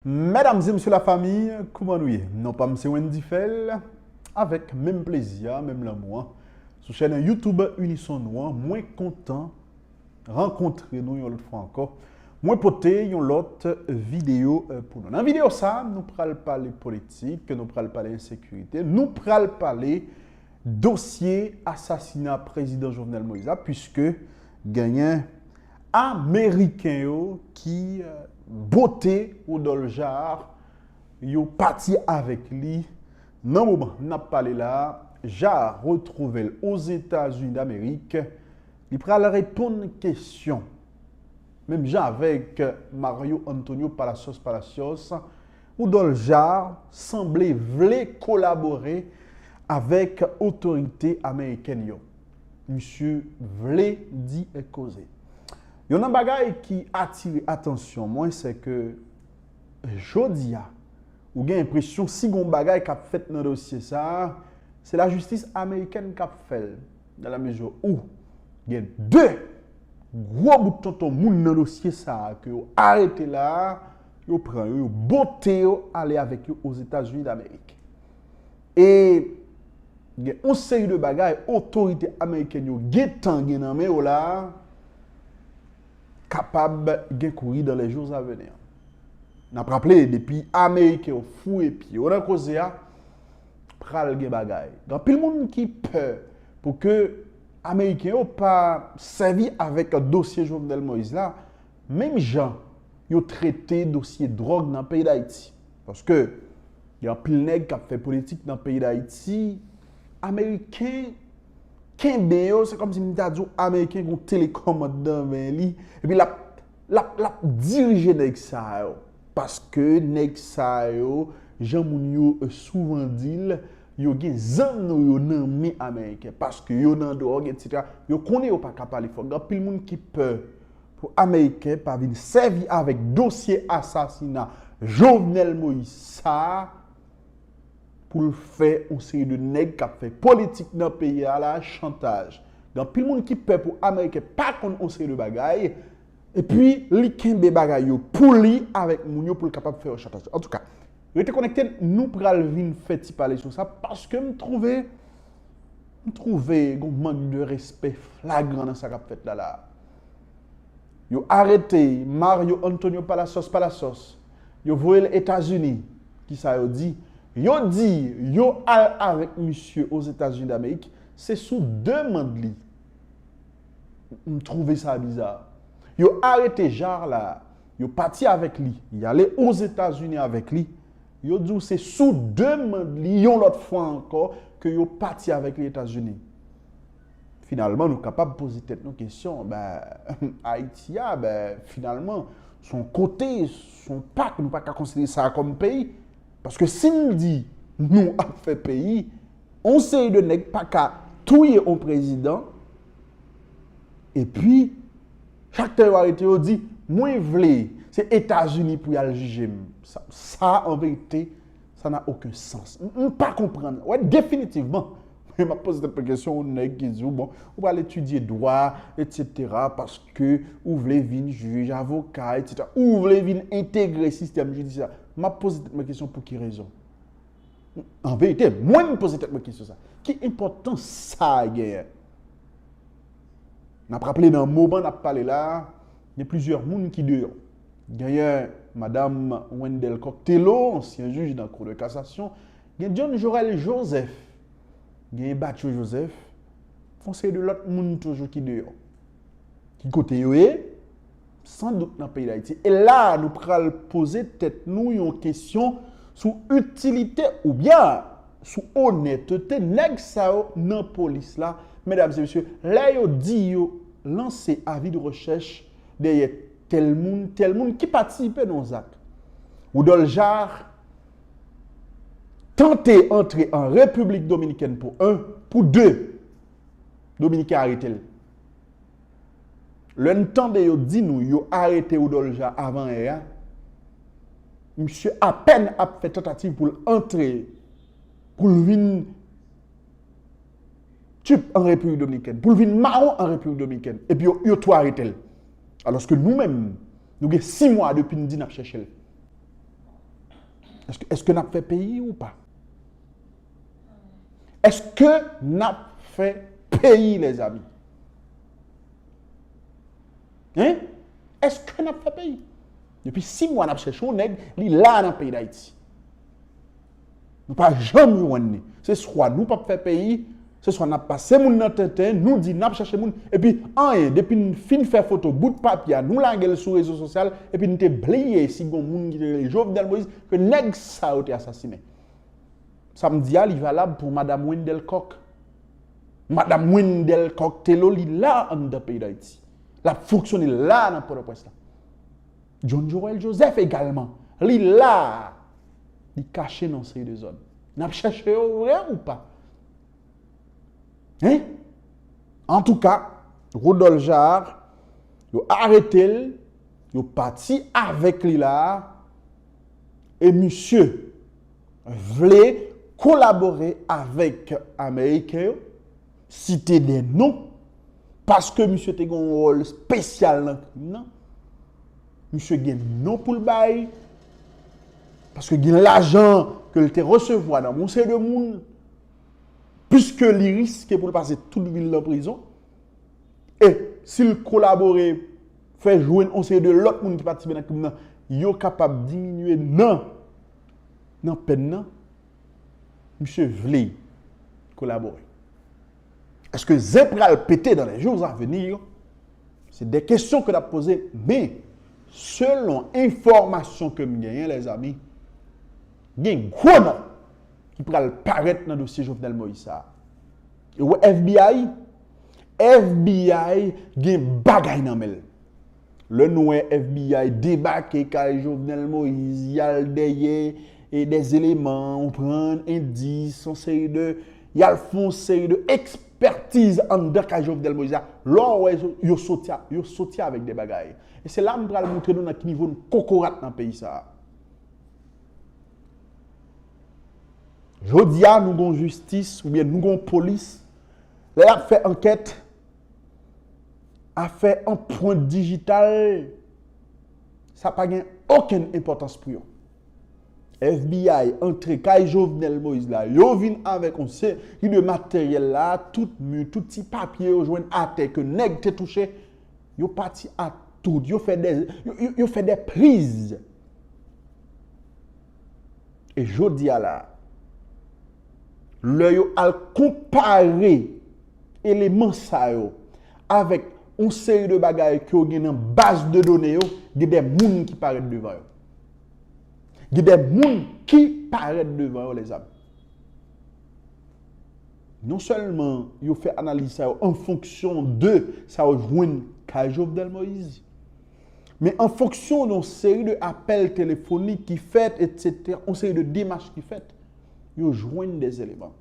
Medam e msye la famille kouman nou ye non pam se Wendy Phel avèk menm plezi a menm lanmou an sou chèn YouTube unison nou an mwen kontan rankontre nou yon lòt fwa ankò mwen pote yon lòt video pou nou nan video sa nou pral pale politik nou pral pale ensekirite nou pral pale dosye asasina prezidan Jovenel Moïse la pwiske genyen Ameriken yo ki bote Rodolphe Jaar yo pati avèk li nan moman n ap pale la a. Jaar retwouve l Ozetazini Damerik. Li pral reponn kesyon menm jan avèk Mario Antonio Palacios Palacios. Rodolphe Jaar sanble vle kolabore avèk otorite amerikèn yo. misye vle di et koze. Yon nan bagay ki atire atansyon mwen se ke jodi a ou gen enpresyon si gon bagay k ap fèt nan dosye sa a, se lajistis amerikèn k ap fè l dan la mezi ou gen de gwo bout tonton moun nan dosye sa a ke yo arete la a, yo pran yo, yo bote yo ale avèk yo Ozetazini Damerik. E gen yon seri de bagay otorite amerikèn yo gentan gen nan men yo la a, kapab gen kouri dans les jours à venir. N ap raple, depi ameriken yo fouye pye yo nan koze a, pral gen bagay. Gen anpil moun ki pè pou ke ameriken yo pa sèvi avèk dosye Jovenel Moïse la, menm jan yo trete dosye dròg nan peyi Dayiti. Paske gen anpil nèg kap fè politik nan peyi dayiti, ameriken kenbe yo, se kòmsi m ta di w ameriken gen yon telekòmand nan men li, epi lap lap dirije nèg sa yo. Paske nèg sa yo, jan moun yo souvan di l, yo gen zam nou yo nan men ameriken. Paske yo nan dwòg etsetera, yo konnen yo paka pale fò, gen anpil moun ki pè. pou ameriken pa vin sèvi avèk dosye asasina Jovenel Moïse sa a pou l fè yon seri de nèg k ap fè politik nan peyi a la chantaj. Gen anpil moun ki pè pou ameriken pa konn yon seri de bagay epi li kenbe bagay yo pou li avèk moun yo pou l kapab fè yo chantaj. Antouka, rete konekte, nou pral vin fè ti pale sou sa paske m twouve M twouve gon mank de respè flagran nan sa k ap fèt la la a. Yo arete Mario Antonio Palacios Palacios, yo voye l Etazini. Ki sa yo di? Yo di yo al avèk misye Ozetazini Damerik, se sou demand li. M twouve sa biza. Yo arete Jaar la a, Yo pati avèk li, y ale Ozetazini avèk li. Yo di w se sou demand li yon lòt fwa ankò ke yo pati avèk li Etazini. Finalman, nou kapab poze tèt nou kesyon, ben, Ayiti a, ben, finalman, s on kote, s on pak, nou pa ka konsidere sa kòm peyi. Paske si m di nou ap fè peyi, on seri de nèg pa ka touye on prezidan, E pi, faktè yo arete yo di, mwen vle, se Etazini pou y al jije m. Sa a, an verite, sa na oken sans. M pa konprann. Wè, definitivman, m ap poze tèt mwen kesyon, yon nèg ki di w, bon, ou pral etidye dwa, etsetera, paske ou vle vin jij, avoka, etsetera, ou vle vin entegre sistèm jidisyè a. M ap poze tèt mwen kesyon pou ki rezon? An verite, mwen m poze tèt mwen kesyon sa. Ki enpòtans sa genyen? N ap raple nan moman n ap pale la, gen plizyè moun ki deyò. Genyen madam Wendelle Coq Thélot, ansyen jij nan Kou de Kasasyon, gen John Jorel Joseph, genyen Batcho Joseph, yon seri de lòt moun toujou ki deyò. Ki kote yo ye? san dout nan peyi Dayiti. E la a nou pral poze tèt nou yon kesyon sou itilite ou byen sou onètete nèg sa yo nan polis la. Medam e mesye, lè yo di yo lanse avi de rechèch dèyè tèl moun, tèl moun ki patisipe nan yon zak. Woudòl Jar tante antre an Repiblik Dominikèn pou 1, pou 2, Dominiken arete l. Lè n tande yo di nou yo arete Woudòlja avan è a, misye apèn ap fè tantativ pou l antre, pou l vin tip an Repiblik Dominikèn, pou l vin mawon an Repiblik Dominikèn, epi yo tou arete l. Alòske nou menm, nou gen si mwa depi n di n ap chèche l. Èske n ap fè peyi ou pa? Eske nap fè peyi lèzami? Hein? Eske nap fè peyi? Depi 6 mwa nap chèche yon nèg, li la nan peyi Dayiti. Nou pa janm jwenn li. Se swa nou pap fè peyi, se swa nap pase moun nan tenten, nou di nap chèche moun, epi anyen, depi n fin fè foto bout papye a, nou lage l sou rezo sosyal, epi n te bliye si gon moun ki te rele Jovenel Moïse ke nèg sa yo te asasinen. Sa m di a li valab pou Madam Wendelle Coq. Madam Wendelle Coq Thelo li la anndan peyi Dayiti. L ap fonksyone la nan Pòtoprens la. John Joël Joseph egalman, li la a, li kache nan yon seri de zòn. N ap chèche yo vre ou pa? Hein? Antouka, Rodolphe Jaar, yo arete l, yo pati avèk li la a, e misye, vle kolabore avèk ameriken yo, site de non, paske misye te gen yon wòl spesyal nan krim nan, misye gen non pou l bay, paske gen lajan ke l te resevwa nan moun se de moun, piske li riske pou l pase tout vi l nan prizon, e si l kolabore, fè jwenn yon seri de lòt moun ki patisipe nan krim nan, yo kapab diminye nan nan pèn nan, misye vle kolabore. Eske zen pral pete dan lè jou zan veni yo? Se de kesyon ke nap poze, men, selon enfòmasyon ke m genyen lè zanmi, gen gwo nan ki pral parèt nan dosye Jovenel Moïse sa a. Ou wè FBI? FBI gen bagay nan menl. Lè nou wè FBI debake kay Jovenel Moïse, yal dèyè e dè zeleman, ou pran endis, son seri de, yal fon seri de ekspertiz anndan kay Jovenel Moïse la, lò wè yo soti, yo soti avèk dè bagay. E se la m pral montre nou nan ki nivo n kokorat nan peyi sa a. Jodi a nou gon jistis ou byen nou gon polis lè yap fè ankèt afè anpwent dijital sa pa gen okenn enpòtans pou yo. FBI antre kay Jovenel Moïse la, yo vin avèk yon seri de materyèl la, tout mi, tout ti papye yo jwenn atè ke nèg te touche, yo pati ak tout, yo fè de, yo fè de priz. E jodi a la a, lè yo al konpare eleman sa yo avèk yon seri de bagay ke yo gen nan baz de done yo, gen de moun ki parèt devan yo. Gen de moun ki parèt devan yo, lèzanm. Non sèlman yo fè analiz sa yo an fonksyon de sa yo jwenn kay Jovenel Moïse, Men an fonksyon de yon seri de apèl telefonik ki fèt, etsetera, yon seri de demach ki fèt, yo jwenn de eleman.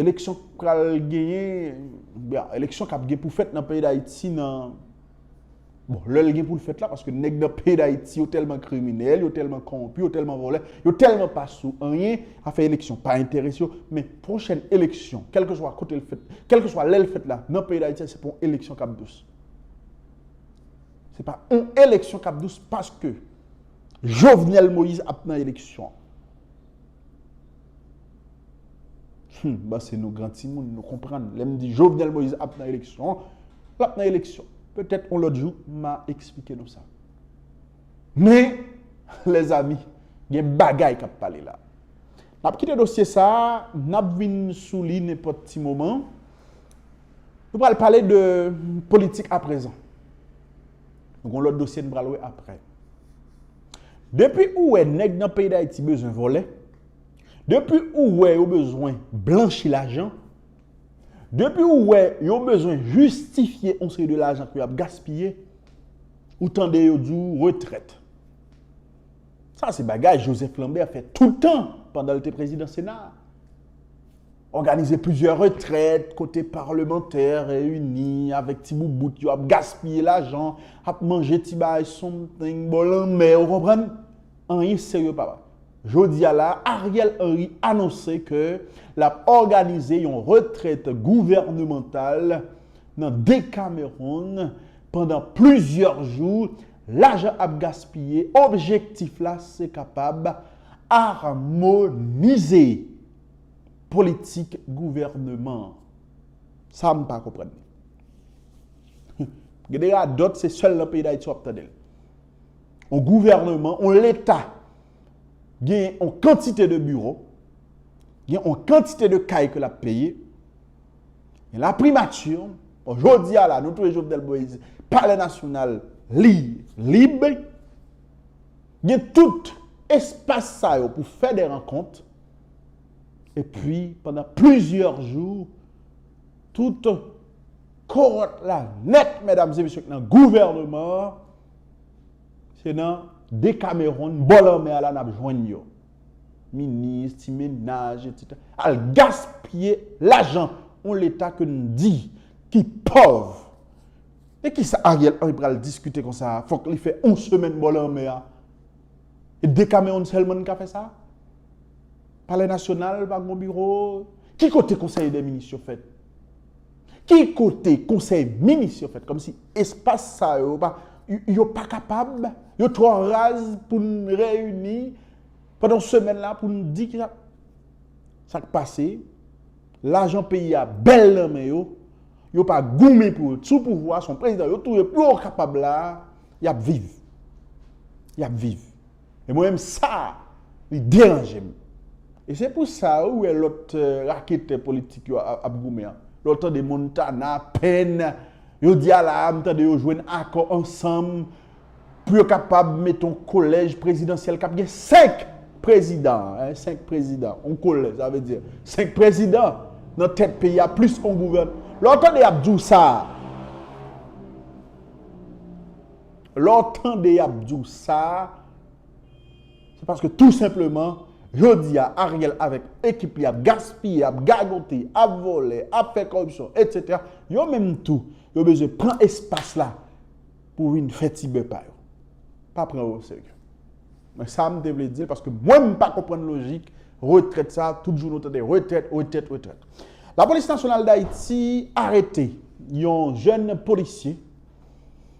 Eleksyon k pral genyen, oubyen eleksyon k ap gen pou fèt nan peyi Dayiti nan, bon, lè l gen pou l fèt la, paske nèg nan peyi Dayiti yo tèlman kriminèl, yo tèlman kowonpi, yo tèlman vòlè, yo tèlman pa sou anyen, afè eleksyon pa enterese yo, men, Pwochèn eleksyon, kèlkeswa kote l fèt, kèlkeswa lè l fèt la, nan peyi Dayiti, se pa yon eleksyon k ap dous. Se pa yon eleksyon k ap dous paske Jovenel Moïse ap nan eleksyon. Hum, m panse nou gran timoun, nou konprann. Lè m di Jovenel Moïse ap nan eleksyon, l ap nan eleksyon. Petèt yon lòt jou, m a esplike nou sa. Men, lèzami, gen bagay k ap pale la. N ap kite dosye sa a, n ap vin sou li nenpòt ti moman. Nou pral pale de politik aprezan. Nou gen yon lòt dosye n pral wè aprè. Depi ou wè nèg nan peyi Dayiti bezwen vòlè, depi ou wè yo bezwen blanchi lajan, depi ou wè yo bezwen jistifye yon seri de lajan ke yo ap gaspiye, ou tande yo di ou retrèt. Sa se bagay Joseph Lambert fè tout tan pandan l te prezidan Sena a. Òganize plizyè retrèt kote palmantè reyini avèk ti boubout yo ap gaspiye lajan, ap manje ti bagay something bò lanmè, ou konprann? Anyen serye pa pase. Jodi a la, Ariel Henry anonse ke l ap òganize yon retrèt gouvènemantal nan Decameron pandan plizyè jou lajan ap gaspiye, objektif la se kapab armonize politik gouvèneman an. Sa m pa konprann ni. Gade radòt se sèl nan peyi Dayiti w ap tande l. On gouvèneman, on leta gen on kantite de biwo, gen on kantite de kay ke l ap peye, Men la primati, bon jodi a la, nou touye Jovenel Moïse, pale nasyonal li lib, gen tout espas sa yo pou fè de rankont, e pi pandan plizyè jou, tout kowòt la nèt, mèdam se misye k nan gouvèneman, se nan dekameron, bò lanmè a la nap jwenn yo. minis, ti mennaj, etc. Al gaspiye lajan yon leta ke nou di ki pòv. E ki sa Ariel Henry pral diskite kon sa a? Fòk li fè yon semèn bò lanmè a. E Decameron sèlman ki ka fè sa? Palè nasyonal pa gen yon biwo? Ki kote konsèy dè minis yo fèt? Ki kote konsèy minis yo fèt kòmsi espas sa yo pa yo pa kapab yo twò raz pou n reyini pandan yon semèn la pou n di kisa sa k pase lajan peyi a bèl nan men yo yo pa goumen pou yo t sou pouvwa se yon prezidan yo touye pou yo kapab la y ap viv y ap viv. E mwen menm sa li deranje m. E se pou sa ou wè lòt raketè politik yo ap goumen an. Lè w tande Montana, Penn, yo di a la a m tande yo jwenn akò ansanm pou yo kapab mete yon kolèj prezidansyèl k ap gen 5 prezidan, 5 prezidan, yon kolèj sa vle di 5 prezidan nan tèt peyi a plis yon gouvènman. Lè w tande y ap di w sa a. Lè w tande y ap di w sa, se paske tou senpleman, jodi a, Ariel avèk ekip li ap gaspiye, ap gagote, ap vòlè, ap fè kòripsyon, etsetera. Yo menm tou, yo bezwen pran espas la pou vin fè ti bè pa yo. Pa pran yo oserye. Men sa m te vle di l, paske mwen m pa konprann lojik retrèt sa, tout jou nou tande retrèt, retrèt, retrèt. Lapolis Nasyonal Dayiti arete yon jèn polisye.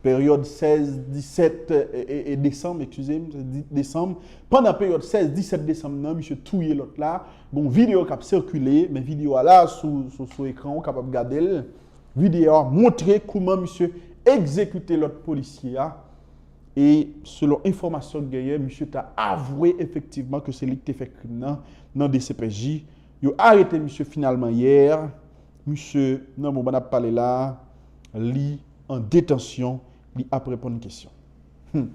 Peryòd 16, 17 desanm, ekskize m, desanm, pandan peryòd 16, 17 desanm nan, misye touye lòt la, gen yon videyo k ap sikile, men videyo a la sou ekran ou kapab gade l, videyo a montre kouman misye egzekite lòt polisye a, e selon enfòmasyon k genyen, misye ta avwe efektivman ke se li ki te fè krim nan, nan dcpj. Yo arete misye finalman yè, misye, nan moman n ap pale la, Li an detansyon, li ap reponn kesyon. Hum!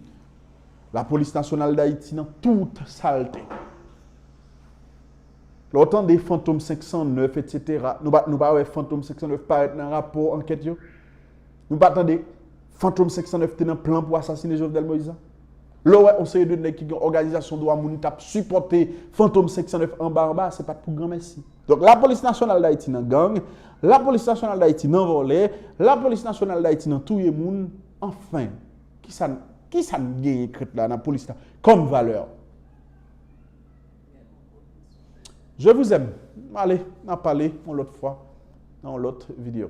La polis nasyonal dayiti nan tout salte. Lè w tande fantom 509 etsetera, nou pa nou pa wè fantom 509 parèt nan rapò ankèt yo? Nou pa tande fantom 509 te nan plan pou asasine Jovenel Moïse lan? Lè w wè yon seri de nèg ki gen òganizasyon dwa moun k ap sipòte Fantom 509 anba anba, se pa t pou granmèsi. Donk, Lapolis Nasyonal Dayiti nan gang, Lapolis Nasyonal Dayiti nan vòlè, Lapolis Nasyonal Dayiti nan touye moun, anfen, ki sa n, ki sa n genyen k ret la nan polis la kòm valè? Je vous aime. N ale, n ap pale yon lòt fwa nan yon lòt videyo.